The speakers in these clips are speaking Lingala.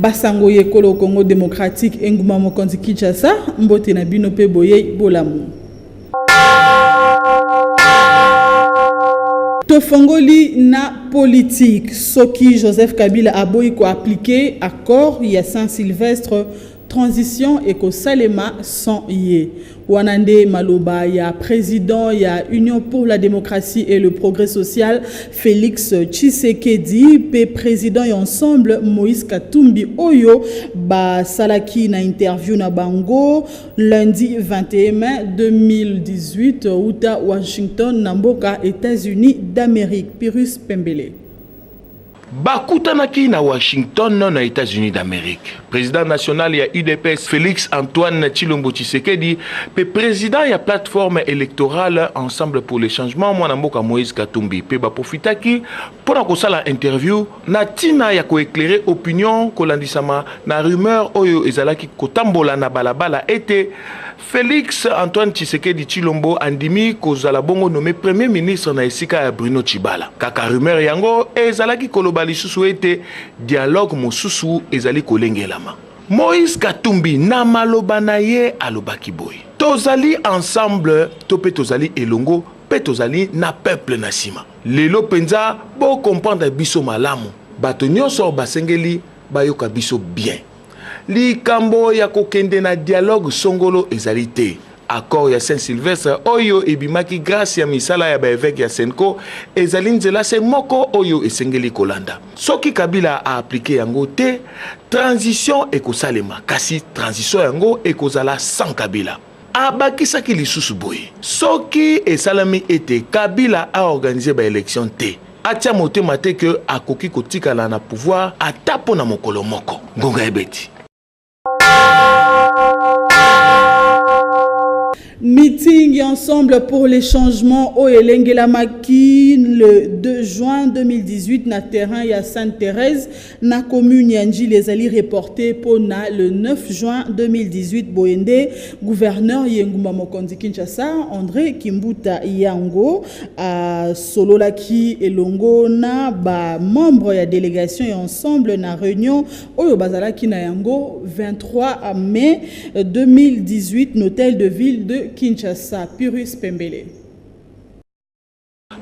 Basango y'ekolo Congo democratique engumba mokonzi Kinshasa, mbote na bino mpe boyei bolamu. tofongoli na politike soki joseph kabila aboyi koaplike accord ya saint sylvestre transition ekosalema sans ye Wana nde maloba ya president ya Union pour la démocratie et le progrès social Felix Tshisekedi pe president ya ensemble Moïse Katumbi oyo basalaki na interview na bango lundi 21 mai 2018 uta Washington na mboka États-Unis d'Amérique. Pirus Pembele. Bakutanaki na Washington na Etats-Unis d'Amerique. President national ya UDPS Felix Antoine Tshilombo Tshisekedi pe president ya plateforme electorale Ensemble pour le changement mwana mboka Moïse Katumbi pe baprofitaki mpo na kosala interview na tina ya koeklere opinion kolandisama na rumeur oyo ezalaki kotambola na balabala ete Felix Antoine Tshisekedi Tshilombo andimi kozala bongo nomme premier ministre na esika ya Bruno Tshibala. Kaka rumeur yango ezalaki koloba lisusu ete dialogue mosusu ezali kolengelama. Moïse Katumbi na maloba na ye alobaki boye, Tozali ensemble to mpe tozali elongo mpe tozali na peuple na nsima. Lelo mpenza bo comprendre biso malamu. Bato nyonso basengeli bayoka biso bien. Likambo ya kokende na dialogue songolo ezali te. Accord ya Saint Sylvestre oyo ebimaki grâce ya misala ya ba evêque ya Senco ezali nzela se moko oyo esengeli kolanda. Soki Kabila a appliquer yango te, transition ekosalema kasi transition yango ekozala sans Kabila. Abakisaki lisusu boye, Soki esalami ete Kabila a organiser ba elections te, atia motema te que akoki kotikala na pouvoir ata mpo na mokolo moko. Ngonga ebeti. Meeting ensemble pour les changements au Elengelamaki le 2 juin 2018 na terrain ya Sainte-Thérèse Na commune ya Ndjili ezali reporter mpo na le 9 juin 2018, boye nde gouverneur ya engumba mokonzi Kinshasa, Andre Kimbuta Yango asololaki elongo na ba membres ya delegation ya Ensemble na reunion oyo bazalaki na yango 23 mai 2018 n'hotel de ville de Kinshasa. Pyrrhus Pembele.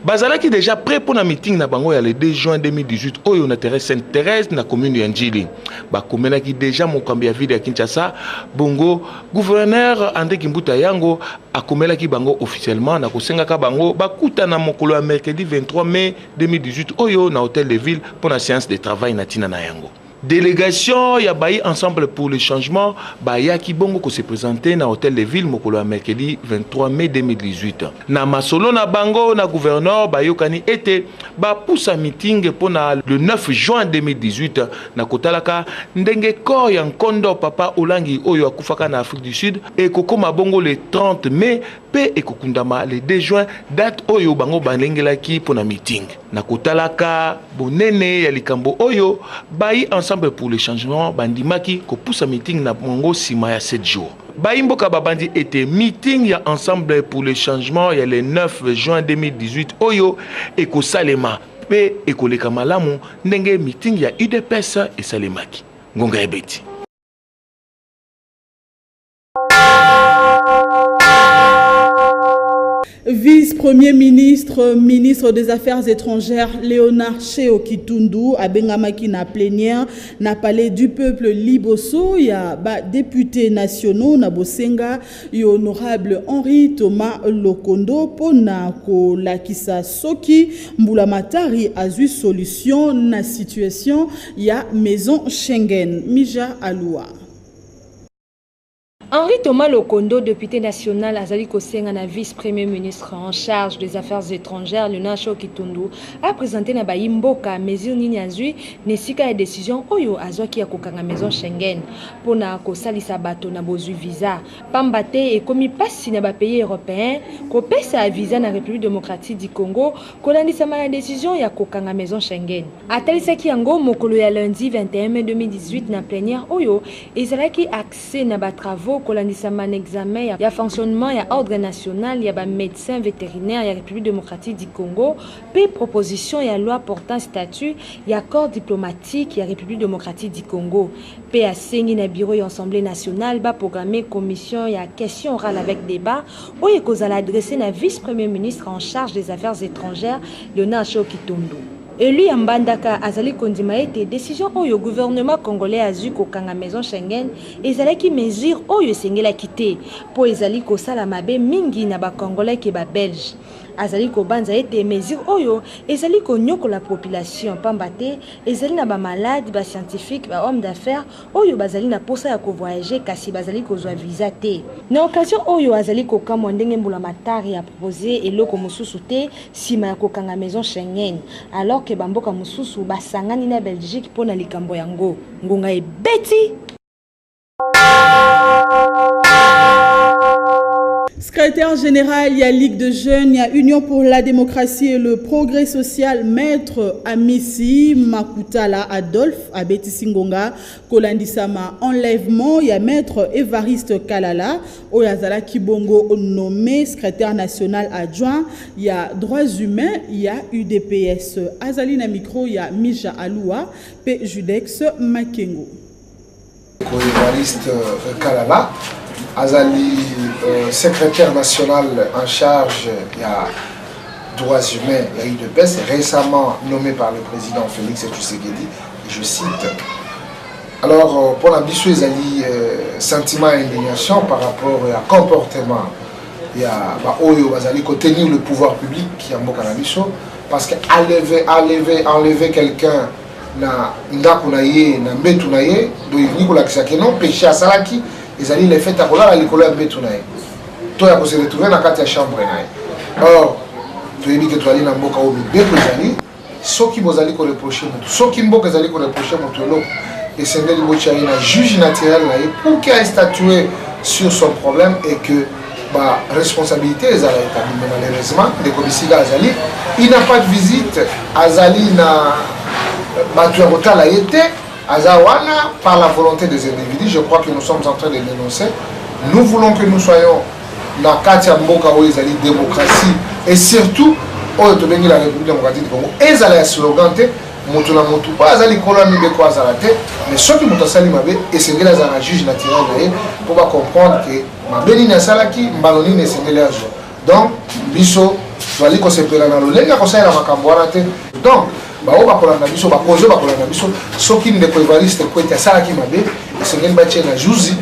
Bazalaki deja prêt mpo na meeting na bango ya le 2 juin 2018 oyo na terrain Sainte Therèse na commune ya Ndjili. Bakomelaki deja mokambi ya ville ya Kinshasa, bongo gouverneur André Kimbuta Yango akomelaki bango officiellement na kosengaka bango bakutana mokolo ya mercredi 23 mai 2018 oyo na hôtel de ville mpo na séance de travail na ntina na yango. Delegation ya bayi Ensemble pour le changement bayaki bongo ko se presenter na Hotel de Ville mokolo ya mercredi 23 mai 2018. Na masolo na bango na gouverneur, bayokani ete bapusa meeting mpo na le 9 juin 2018 na kotalaka ndenge corps ya nkondo Papa Olangi oyo akufaka na Afrique du Sud ekokoma bongo le 30 mai mpe ekokundama le 2 juin, date oyo bango balengelaki mpo na meeting. Na kotalaka bonene ya likambo oyo, bayi Ensemble pour le changement bandimaki kopusa meeting na bango nsima ya 7 jours. Bayi mboka babandi ete meeting ya Ensemble pour le changement ya le 9 juin 2018 oyo ekosalema mpe ekoleka malamu ndenge meeting ya udps esalemaki. Ngonga ebeti. Vice-premier ministre, ministre des Affaires étrangères, Léonard Cheo Kitundu, à Bengamaki na plénière, na palais du peuple Liboso, ya ba députés nationaux, na Bosenga, et honorable Henri Thomas Lokondo, pona ko lakisa soki, mbulamatari azui solution na situation ya maison Schengen, Mija Aloua. Henri Thomas Lokondo, depute national, azali kosenga na vice-premier ministre en charge des affaires étrangères Leonard Cho Kitundu a présenter na bayi mboka mesure nini azwi na esika ya decision oyo azwaki ya kokanga maison Schengen mpo na kosalisa bato na bozwi visa pamba te ekomi mpasi na bapays européens kopesa visa na République démocratique du Congo kolandisama na decision ya kokanga maison Schengen. Atalisaki yango mokolo ya lundi 21 mai 2018 na plénière oyo Ezalaki accès na ba travaux kolandisama na examen ya fonctionnement ya Ordre national ya ba medecins veterinaires ya Republique democratique du Congo mpe proposition ya loi portant statut ya corps diplomatique ya Republique democratique du Congo mpe asengi na Bureau ya Assemblee nationale ba programmer commission ya question orale avec debat oyo ekozala adresser na vice-Premier ministre en charge des Affaires étrangères, Leonard Cho Kitundu. Elu ya Mbandaka azali kondima ete decision oyo gouvernement congolais azwi kokanga maison Schengen ezalaki mesure oyo esengelaki te mpo ezali kosala mabe mingi na ba congolais ke ba belges. Azali kobanza ete mesure oyo ezali konyokola population pamba te ezali na ba malades, ba scientifiques, ba hommes d'affaires, oyo bazali na posa ya ko voyager kasi bazali kozwa visa te. Na occasion oyo azali kokamwa ndenge mbula matari a propose eloko mosusu te sima ya kokanga maison Schengen alors que ba mboka mosusu basangani na Belgique mpo na likambo yango. Ngonga ebeti! Secrétaire général, il y a Ligue de jeunes, il y a Union pour la démocratie et le progrès social, maître Amissi Makutala Adolphe. abetisi ngonga kolandisama enlèvement ya maître Evariste Kalala oyo azalaki bongo nommé secrétaire national adjoint ya droits humains ya UDPS azali na micro ya Mija Alua pe Judex Makengo Evariste euh, Kalala azali euh, secrétaire national en charge ya droits humains ya UDPS récemment nommé par le président Félix Tshisekedi je cite alors euh, mpo na biso ezali sentiment ya indignation par rapport ya comportement ya baoyo bazali kotenir le pouvoir public ya mboka na biso parce que enlever, enlever, enlever quelqu'un na ndako na ye na mbetu na ye donc elingi kolakisa ke non péché asalaki ezali le fait ya kolala likolo ya mbetu na ye to ya kose retrouve na kati ya chambre na ye or toyebi ke tozali na mboka oyo mibeko ezali soki bozali koreproche motu soki mboka ezali koreproche motu eloko esengeli botya ye na juge naturel na ye pour ke astatue sur son problème et que ba responsabilité ezala etabli mais malheureusement ndeko bisika azali il n'a pas de visite azali na bato ya kotala ye te aza wana par la volonté des individus je crois que nous sommes en train de dénoncer nous voulons que nous soyons na kati ya mboka oyo ezali démocratie et surtout oyo tobengi la république démocratique du congo ezala ya slogan te moto na moto oyo aza likolo ya mibeko azala te mais soki moto asali mabe esengeli azala na juge naturel na ye mpo bacomprendre ke mabe nini asalaki mbano nini esengeli azwa donc biso tozali kosepela na lolenge ya kosalela makambo wana te donc baoyo bakolanda biso bakonzi oyo bakolanda biso soki ndeko evariste kwete asalaki mabe esengeli batie na juzi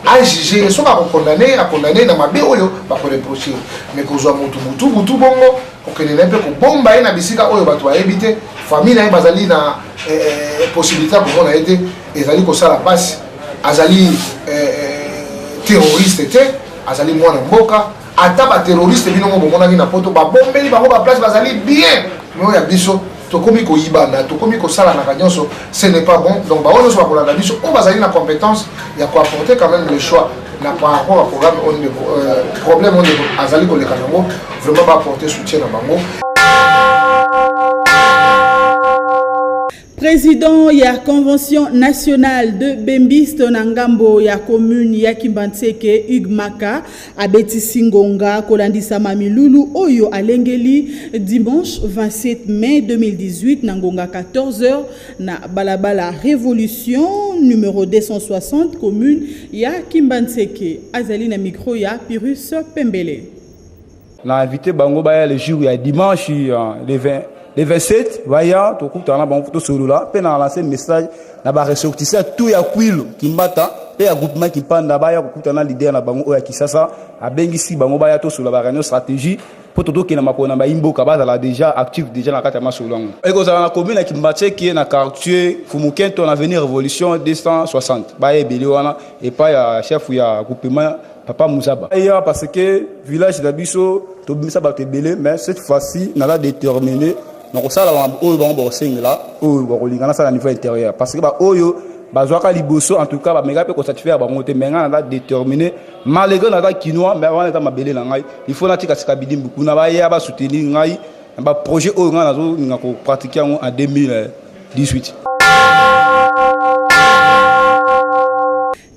ajuge ye soki akokondane akondane na mabe oyo bakoreproche me kozwa motu butu butu bongo kokende na ye mpe kobomba ye na bisika oyo bato bayebi te famille na ye bazali na eh, eh, possibilité ya komona ye te ezali kosala pasi azali eh, eh, terroriste te azali mwana mboka ata baterroriste bino mo bomonaki na poto babombeli bango baplace bazali bien mio ya biso tokomi koyibana tokomi kosalanaka nyonso ce n'est pas bon donc bango nyonso bakolanda biso oyo bazali na compétence ya koapporter quand même le choix na par rapport ya programme oyo ndeko euh, problème oyo ndeko azali koleka nango vraiment baaporter soutien na bango President ya Convention nationale de Bembiste na ngambo ya commune ya Kimbanseke Hugues Maka abetisi ngonga kolandisama milulu oyo alengeli dimanche 27 mai 2018 na ngonga 14h na balabala Revolution numero 260 commune ya Kimbanseke azali na micro ya Pyrus Pembele. na invite bango baya le jour ya dimanche euh, le 20 le 27 baya tokutana na bango tosolola mpe na lance message na baressortissant tout ya kwilo kimbata mpe ya groupement kimpanda baya kokutana na leader na bango oyo ya kisasa abengisi bango baya tosolola ba réunion stratégie mpo totokende na makolo na bayimboka bazala déjà actif déjà na kati ya masolo yango ekozala na commune ya kimbatseke na quartier fumukento na avenue révolution 260 baya ebele wana epai ya chef ya groupement papa muzaba awa parce que village na biso tobimisa bato ebele mais cette fois-ci naza déterminé na kosala oyo bango bakosengela oyo bakolinga nasala niveau intérieur parce que baoyo bazwaka liboso en tout cas bameka mpe kosatisfaire bango te mais ngai naza déterminé malgré naza kinois mais wana eza mabele na ngai il faut natikasika bidimbu kuna baya basoutenir ngai na baprojet oyo ngai nazolinga kopratike yango en 2018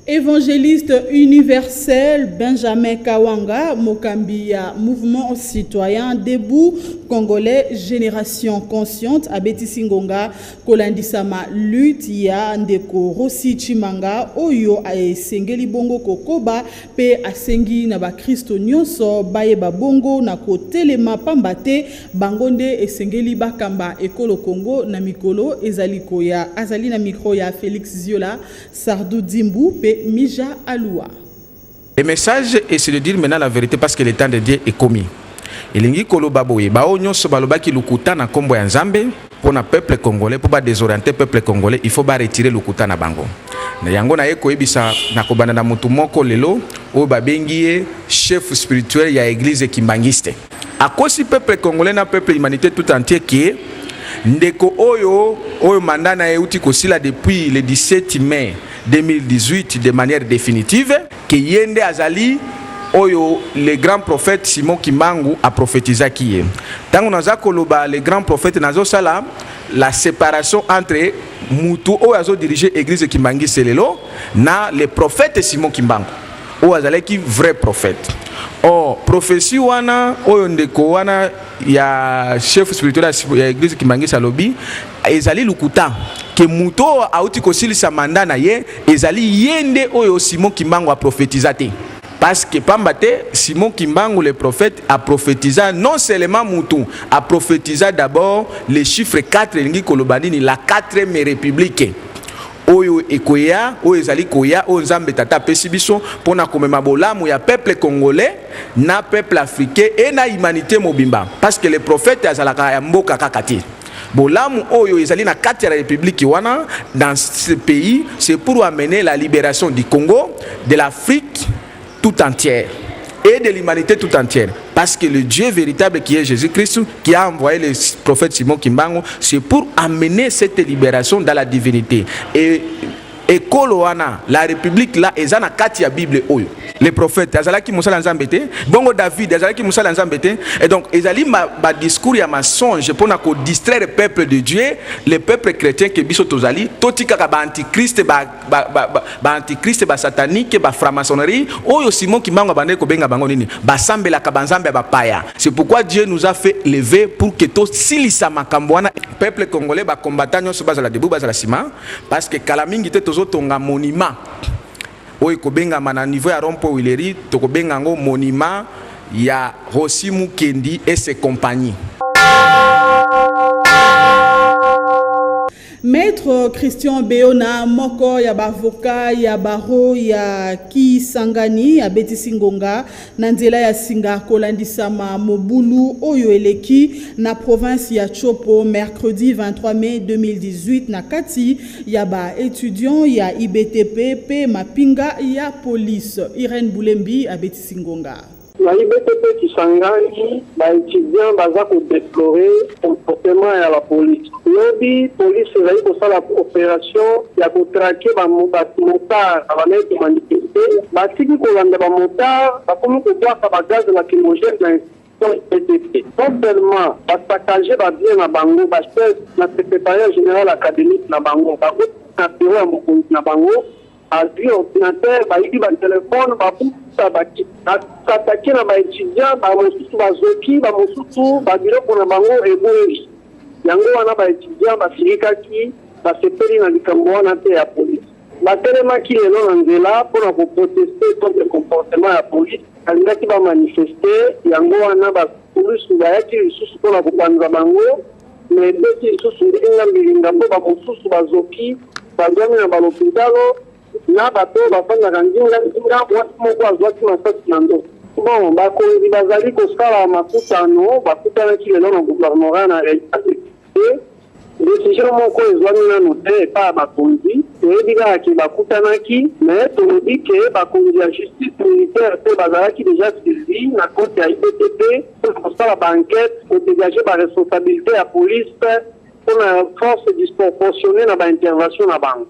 Evangeliste universel Benjamin Kawanga, mokambi ya Mouvement Citoyen Debout Congolais Generation Consciente abetisi ngonga kolandisama lutte ya ndeko Rossy Tshimanga oyo esengeli bongo kokoba pe asengi na bakristo nyonso bayeba bongo na kotelema pamba te bango nde esengeli bakamba ekolo Congo na mikolo ezali koya. Azali na micro ya Felix Ziola Sardou Dimbu pe Mija Alua. Le message est c'est de dire maintenant la vérité parce que le temps de Dieu est commis. elingi koloba boye baoyo nyonso balobaki lokuta na nkombo ya nzambe mpo na peuple congolais mpo badesoriente peuple congolais il faut baretire lokuta na bango na yango naye koyebisa na kobanda na motu moko lelo oyo babengi ye chef spirituel ya eglise kimbangiste Akosi peuple congolais na peuple humanite tout entier que ndeko oyo oyo mandat na ye euti kosila depuis le 17 mai 2018 de manière definitive que ye nde azali oyo le grand prophète Simon Kimbangu a prophétisaki ye. Tango naza koloba le grand prophète nazo sala la séparation entre mutu oyo azo diriger église Kimbangu Selelo na le prophète Simon Kimbangu. oyo azalaki vrai prophète or prophetie wana oyo ndeko wana ya chef spirituel ya eglise kimangisi alobi ezali lokuta ke moto oyo auti kosilisa manda na ye ezali ye nde oyo simon kimbangu aprofetiza te parce que pamba te simon kimbangu le prophète aprofetiza non seulement motu aprofetiza d'abord le chiffre 4 elingi koloba nini la 4e république oyo ekoya, oyo ezali koya, oyo Nzambe Tata apesi biso pona komema bolamu ya peuple congolais na peuple africain et na humanite mobimba parce que le prophète azalaka ya mboka kaka te. Bolamu oyo ezali na kati ya republique wana dans ce pays c'est pour amener la liberation du Congo, de l'Afrique, tout entière et de l'humanité tout entière. Parce que le Dieu véritable qui est Jésus-Christ, qui a envoyé le prophète Simon Kimbango, c'est pour amener cette libération dans la divinité. Et ekolo wana la république là eza na kati ya bible oyo le prophète azalaki mosala nzambe te bongo david azalaki mosala nzambe te et donc ezali badiscours ya mensonge mpo na kodistraire peuple de dieu le peuple chrétien ke biso tozali totikaka baantichrist ba ba, ba, ba, ba antichrist ba satanique ba franc-maçonnerie oyo Simon Kimbangu abandaki kobenga bango nini basambelaka banzambe ya bapaya c'est pourquoi Dieu nous a fait lever pour que tosilisa makambo wana peuple congolais ba combattant nyonso bazala debout bazala sima parce que kala mingi te tozotonga monument oyo ekobengama na niveau ya rompo wileri tokobenga yango monument ya Rossi Mukendi et ses compagnies Maitre Christian Beona, moko ya ba avocats ya barreau ya Kisangani, abetisi ngonga na nzela ya singa kolandisama mobulu oyo eleki na province ya Tshopo mercredi 23 mai 2018 na kati ya ba etudiants ya IBTP mpe mapinga ya police. Irène Bulembi abetisi ngonga. Na IBT pe Kisangani ba etudiants baza ko deplorer comportement ya la police. Lobi police ezali kosala operation ya ko traquer ba motards bazalaki ko manifester, batiki kolanda ba motards, bakomi kobwaka ba gaz lacrymogène na institution IBT. Non seulement ba saccager ba biens na bango, ba chaises na secretariat general academique na bango, bakoti na bureau ya mokonzi na bango. Bazui ordinateur, bayibi ba telephone, babuka, basatake na ba etudiants, ba mosusu bazoki, ba mosusu ba biloko na bango ebungi. Yango wana ba etudiants basilikaki, basepeli na likambo wana te ya police. Batelemaki lelo na nzela mpo na ko protester contre comportement ya police, balingaki ba manifester, yango wana ba. Police bayaki lisusu mpo na kopanza bango na ebeti lisusu mbilinga mbilinga mpo bamosusu bazoki bazwami na balopitalo na bato oyo bafandaka nzinga nzinga. Mwasi moko azwaki masasi na nzoto. Bon, bakonzi bazali kosala makutano bakutanaki lelo na gouvernorat na Haiti. Te, decision moko ezwami nanu te epa ya bakonzi, toyebi kaka ke bakutanaki, mais tolobi ke bakonzi ya justice militaire pe bazalaki dejà saisie na cote ya IBTP pona kosala ba enquetes, ko degager ba responsabilites ya police pona force disproportionnee na ba interventions na bango.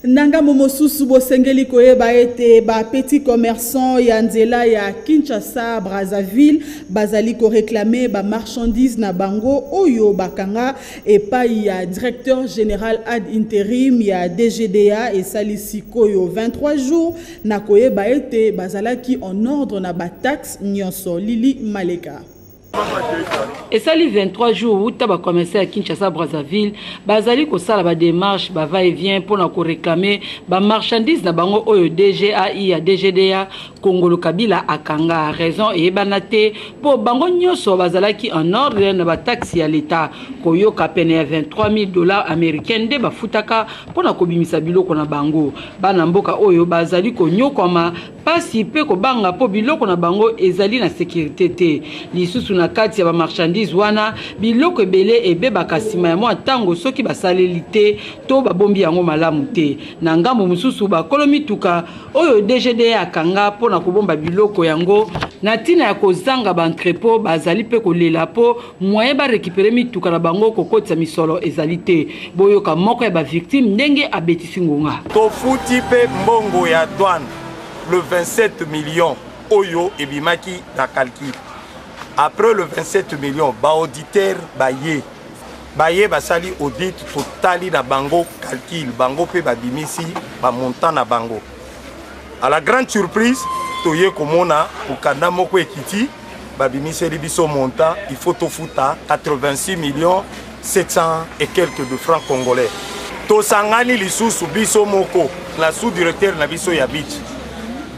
na ngambo mosusu bosengeli koyeba ete bapetit commerçant ya nzela ya kinshasa brazzaville bazali koreklame bamarchandise na bango oyo bakanga epai ya directeur général ad interim ya dgda esali sikoyo 23 jours na koyeba ete bazalaki en ordre na bataxe nyonso lili maleka esali 23 jours uta bacommerçant ya kinshasa brazzaville bazali kosala bademarche bava et vient mpo na koreklame bamarchandise na bango oyo dgai ya dgda kongolo kabila akanga raison eyebana te mpo bango nyonso bazalaki en ordre na bataxe ya leta koyoka pene ya 23000 dollars américain nde bafutaka mpo na kobimisa biloko na bango bana mboka oyo bazali konyokwama mpasi mpe kobanga mpo biloko na bango ezali na sekirite te. Lisusu, na kati ya bamarchandise wana, biloko ebele ebebaka nsima ya mwa ntango soki basaleli te to babombi yango malamu te. Na ngambo mosusu, bakolo mituka oyo DGDA akanga mpo na kobomba biloko yango na ntina ya kozanga ba entrepot bazali mpe kolela mpo moyen ba recupere mituka na bango kokotisa misolo ezali te boyoka moko ya ba victime ndenge abetisi ngonga tofuti pe mbongo ya douane le 27 millions oyo ebimaki na calcul après le 27 millions baauditeur baye baye basali audit totali na bango calcul bango mpe babimisi bamontant na bango à la grande surprise toye komona mokanda moko ekiti babimiseli biso montant il faut tofuta 86 millions 700 et quelques de francs congolais tosangani lisusu biso moko na sous directeur na biso ya beach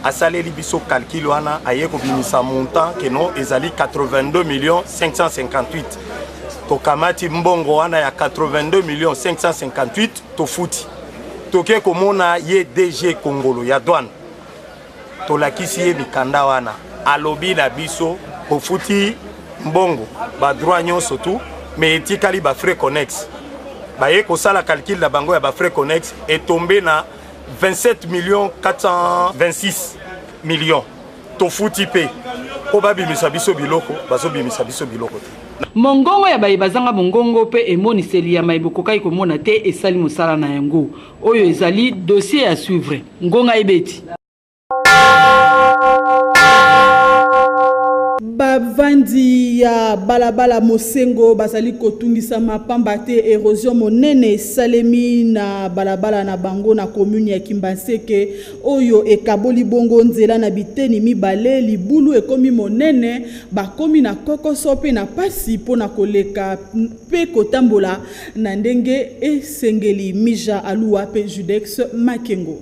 asaleli biso calcul wana aye kobimisa montant keno ezali 82 millions 558 tokamati mbongo wana ya 82 millions 558 tofuti toke komona ye dg kongolo ya douane tolakisi ye mikanda wana alobi na biso ofuti mbongo badroit nyonso tu me etikali bafrais connexe baye kosala calcule na bango ya bafrais connexe etombe na 27 million 426 million tofuti mpe mpo babimisa biso biloko bazobimisa biso biloko te mongongo ya baye bazanga mongongo mpe emoniseli ya maye bokokaki komona te esali mosala na yango Oyo ezali dossier à suivre. Ngonga ebeti. bavandi ya balabala mosengo bazali kotungisama mpamba te erosion monene esalemi na balabala na bango na komuni ya kimbanseke oyo ekaboli bongo nzela na biteni mibale libulu ekomi monene bakomi na kokoso mpe na mpasi mpo na koleka mpe kotambola na ndenge esengeli. Mija Aluwa mpe Judex Makengo.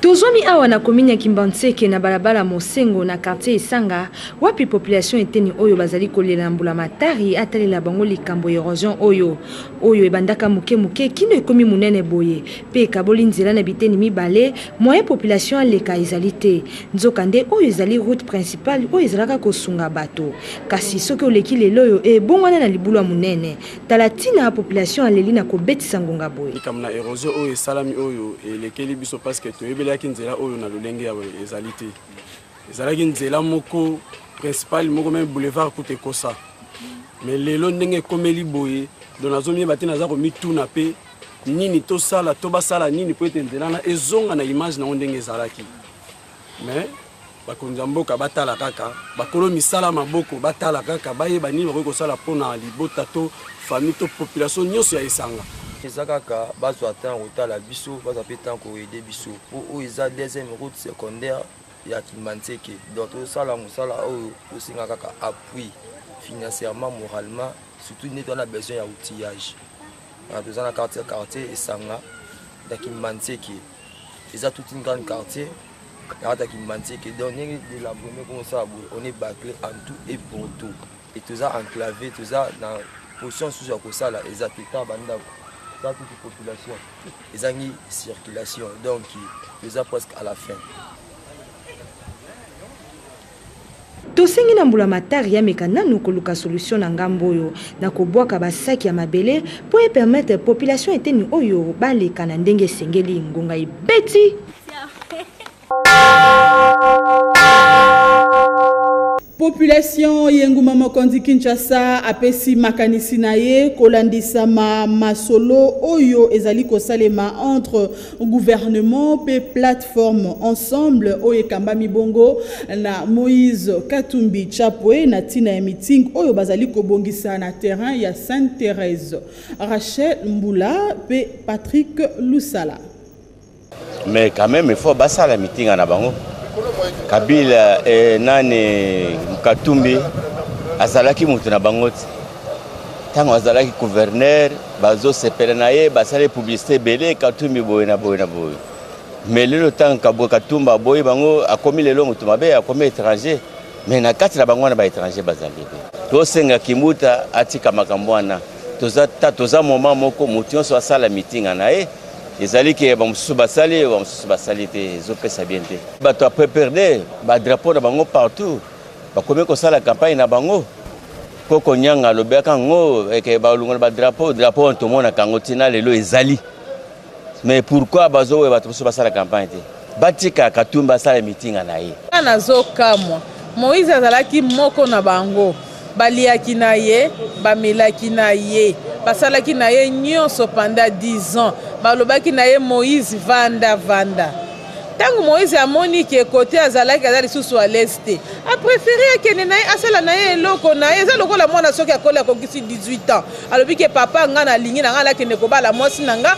Tozwami awa na commune ya Kimbanseke na balabala Mosengo na quartier Isanga wapi population eteni oyo bazali kolela na mbula matari atalela bango likambo ya erosion oyo oyo ebandaka moke moke kino ekomi monene boye mpe ekaboli nzela na biteni mibale, moyen population aleka ezali te. Nzokande, oyo ezali route principale oyo ezalaka kosunga bato. Kasi, soki oleki lel'oyo, ebongwana na libulua monene. Tala tina population aleli na kobetisa ngonga boye. Likambo na erosion oyo esalami oyo elekeli biso parce que toyebelaki nzela oyo na lolenge ya boye ezali te. Ezalaki nzela moko principale, moko meme boulevard kutu ekosa. Mais lelo ndenge ekomeli boye, donc nazomieba te, naza komituna mpe nini tosala to basala nini mpo ete nzela na ezonga na image nango ndenge ezalaki mais bakonzi ya mboka batala kaka bakolo misala maboko batala kaka bayeba nini bakoki kosala mpo na libota to famille to population nyonso ya esanga eza kaka bazwa ntango kotala biso bazwa mpe ntango koede biso mpo oyo eza deuxième route secondaire ya kimbanseke donc tosala mosala oyo tosenga kaka appui financièrement moralement surtout neti wana besoin ya outillage Ah, toza na quartier quartier esanga ya kimbanseke eza toute une grande quartier nakata kimbanseke donc ndenge delabrone komosala boye on est baclé en tout et pour tout e toza enclavé toza na position susu ya kosala eza te ta bandako eza toute population ezangi circulation donc toza presque à la fin Tosengi na mbulamatari ameka nanu koluka solution na ngambo oyo na kobuaka ba sac ya mabele po e permettre population eteni oyo baleka na ndenge esengeli. Ngonga ebeti! Population y'enguma mokonzi Kinshasa apesi makanisi na ye kolandisama masolo oyo ezali kosalema entre Gouvernement mpe plateforme ensemble oyo ekambami bongo na Moïse Katumbi Chapwe na ntina ya meeting oyo bazali kobongisa na terrain ya Sainte Therèse. Rachel Mbula mpe Patrick Lusala. Mais quand même il faut basala meeting na bango. Kabila eh, nani Katumbi azalaki moto na bango te. ntango azalaki gouverneur bazosepela na ye basali publicité ebele katumbi boye na boye na boye mais lelo ntango kabwe katumba aboyi bango akomi lelo moto mabe akomi étranger mais na kati na bango wana baétranger bazali ebe tosenga kimbuta atika makambo wana toza, ta, toza moma moko moto nyonso asala mitinga na ye ezali ke bamosusu basali bamosusu basali te ezopesa bien te bato ya pprd badrapo na bango partout bakomi kosala campagne na bango Koko Nyanga alobaka ngo eke balongola ba drapeau drapeau wana tomonaka yango ntina lelo ezali mais pourquoi bazoboya bato mosusu basala campagne te batika Katumbi asala mitinga na ye. Nga nazokamwa Moïse azalaki moko na bango, baliaki na ye, bamelaki na ye, basalaki na ye nyonso pendant 10 ans, balobaki na ye Moïse vanda vanda. Tango Moïse amoni ke kote azalaki aza lisusu à l'aise te, a prefere akende na ye asala na ye eloko na ye. Eza lokola mwana soki akoli akokisi 18 ans, alobi ke papa nga nalingi na nga nakende kobala mwasi na nga,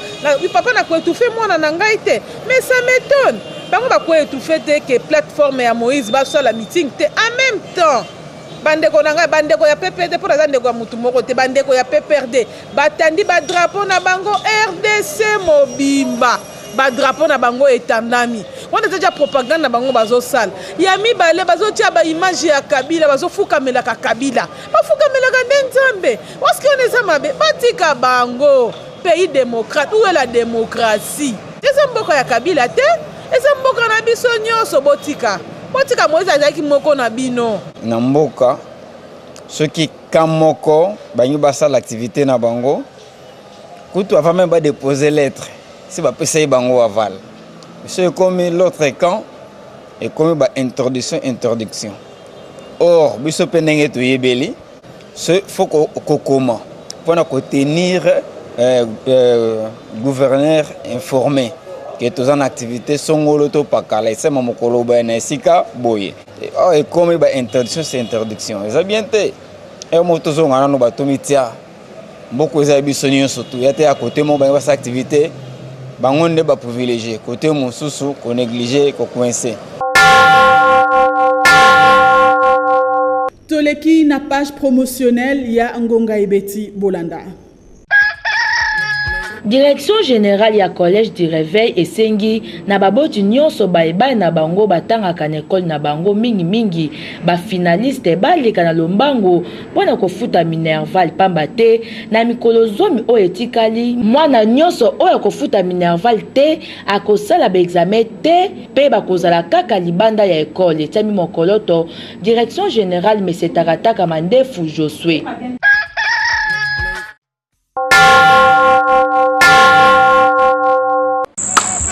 papa na ko etouffer mwana na ngai te. Mais ça m'etonne, bango ba ko etouffer te ke plateforme ya Moïse basala meeting te en meme temps bandeko na ngai bandeko ya PPRD mpo naza ndeko ya motu moko te bandeko ya PPRD batandi ba drapeau na bango rdc mobimba ba drapeau na bango etandami wana eza ja propagande na bango bazosala ya mibale bazotia baimage ya kabila bazofukamelaka kabila bafukamelaka nde nzambe waske wana eza mabe batika bango pays démocrate ou la démocratie eza mboka ya kabila te eza mboka na biso nyonso botika botika moise azalaki moko na bino na mboka soki ka moko bangi basala activité na bango kutu avant meme ba dépose lettre si bapesa ye bango aval so ekomi l'autre camp ekomi ba introduction introduction or biso mpe ndenge toyebeli so faut kokoma mpo na kotenir euh, euh, gouverneur informé ke toza na activité songolo to pakala esema mokolo boye na esika boye oyo oh, ekomi ba introduction se introduction eza bien te e eh, moto tozonga nano bato mitia Mboko eza biso nyonso tu ya te a côté moko bangi basa activité bango nde ba privilégié côté mosusu ko négliger ko coincer. toleki na page promotionnelle ya ngonga ebeti bolanda direction générale ya collège du réveil esengi na baboti nyonso baye bana na bango batangaka na ekole na bango mingimingi bafinaliste baleka na lombango mpo na kofuta minerval mpamba te na mikolo zomi oyo etikali mwana nyonso oyo akofuta minerval te akosala baexame te mpe bakozala kaka libanda ya ekole etiami mokoloto direction générale mesetaka taka mandefu josue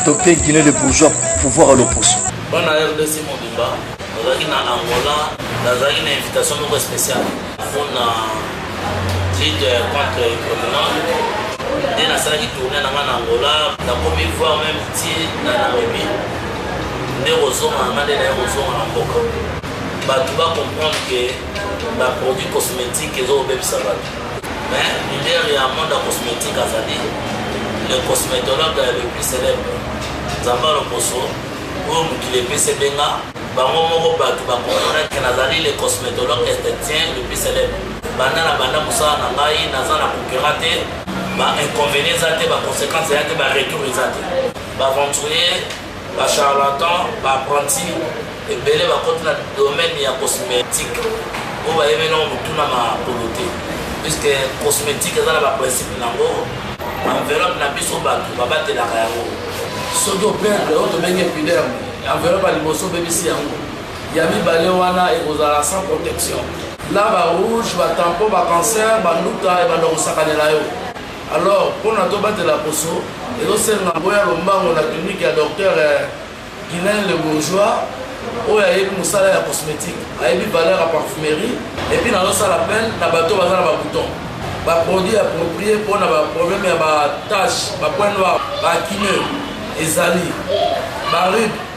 tope guinée le bourgeois pouvoir ya loposo bana rdc mobimba nazalaki na angola nazalaki na invitation moko spéciale mpona lide contre provenant nde nasalaki tourne na ngai na angola nakomi voir meme ti na nairobi nde kozonga na ngai nde naye kozonga na mboka bato bacomprendre ke baproduit cosmétique ezokobebisa bato Mais leader ya monde ya cosmetique azali le cosmetologue le plus célèbre nzambe ya loposo oyo mokili epesi ebenga bango moko bato bakomponake nazali le cosmetologue estetien le plus célèbre banda na banda mosala na ngai naza na concurrent te ba inconvénient eza te ba conséquence eza te ba retour eza te baventurier Ba charlatans, ba apprentis ebele bakoti na domaine ya cosmétique oyo bayebi nango motuna makolo te puisque cosmétique eza na baprincipe nango enveloppe na biso bato babatelaka yango soki operdre oyo tobengi epiderme enveloppe ya liboso obebisi yango ya mibale wana ekozala sans protection na barouge batampo bacancer banduta ebanda kosakanela yo Alors pona tobatela poso ezosenga boya lombango na clinique ya docteur eh, Guilain le bourgeois oyo ayebi mosala ya cosmétique ayebi valeur ya parfumerie epuis nazosala appel na bato baza na babouton baproduit approprie mpo na baproblème ya batache bapoint noir baakine ezali baride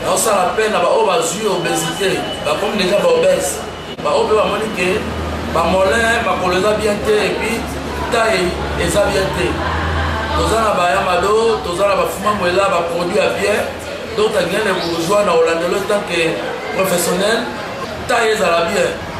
naosala appel na baoyo bazwi obesité bakomi deja baobese baoyo mpe bamoni ke bamolin makolo eza bien te epuis tai eza bien te toza na bayamado toza na bafumamwela baproduit ya bien donc tangene bourgeois na olandelo etant ke professionnel tai ezala bien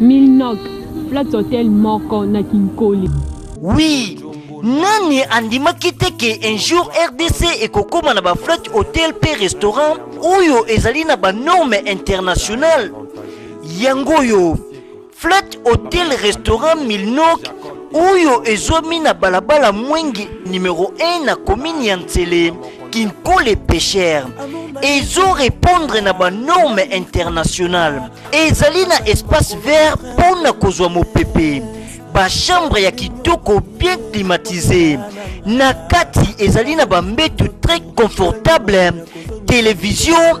Milnog, Flat Hotel moko na Kinkoli. Oui, nani andimaki te ke un jour rdc ekokoma na baflate hotel mpe restaurant oyo ezali na banorme internationale yango oyo Flat Hotel Restaurant Milnok oyo ezwami na balabala Mwenge numero 1 na commune ya Nsele Kinkole Pêcheur ezo répondre na ba normes internationales ezali na espace vert mpo na kozwa mopepe ba chambre ya kitoko bien climatisé na kati ezali na ba mbetu très confortable télévision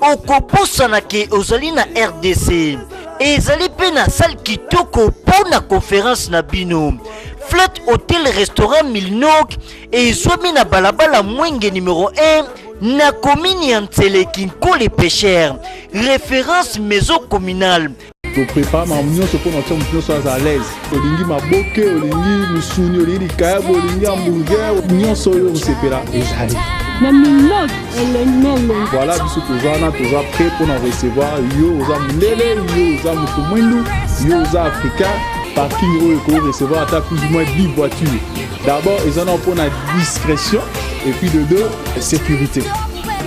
okobosana ke ozali na rdc ezali mpe na sale kitoko mpo na conference na bino flat hotel restaurant milnok ezwami na balabala mwenge numero 1 na komini ya nseleki nkole pesher référence maison communale toprepare makambo nyonso mpo na tia moto nyonso aza alaise olingi maboke olingi misuni olingi likayabo olingi hamburger nyonso oyo osepela ezali na minot elemele voilà biso toza wana toza prêt mpo na recevoir yo oza mondele yo oza moto mwindu yo oza africain parking oyo ekoki recevoir ata plus ou moins 10 voitures d'abord eza na mpo na discrétion et puis de deux sécurité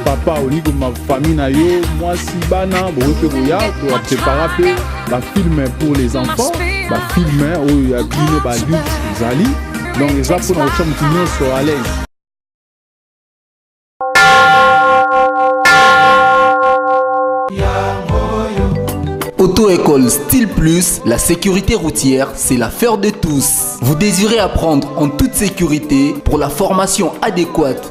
papa olingi kobima famille na yo mwasi bana bokoki mpe koya toaprepara mpe bafilme pour les enfants bafilme oyo ya bino badulte ezali donc eza mpo na kotya motu nyonso alaise Auto-école Style Plus, la sécurité routière, c'est l'affaire de tous. Vous désirez apprendre en toute sécurité pour la formation adéquate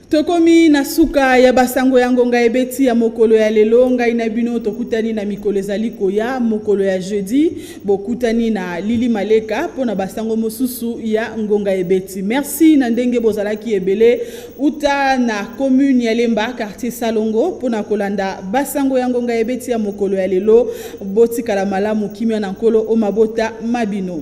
Tokomi na suka ya basango ya ngonga ebeti ya mokolo ya lelo. Ngai na bino tokutani na mikolo ezali koya. Mokolo ya jeudi bokutani na Lili Maleka mpo na basango mosusu ya ngonga ebeti. Merci na ndenge bozalaki ebele uta na commune ya Lemba quartier Salongo mpo na kolanda basango ya ngonga ebeti ya mokolo ya lelo. Botikala malamu, kimia na Nkolo o mabota ma bino.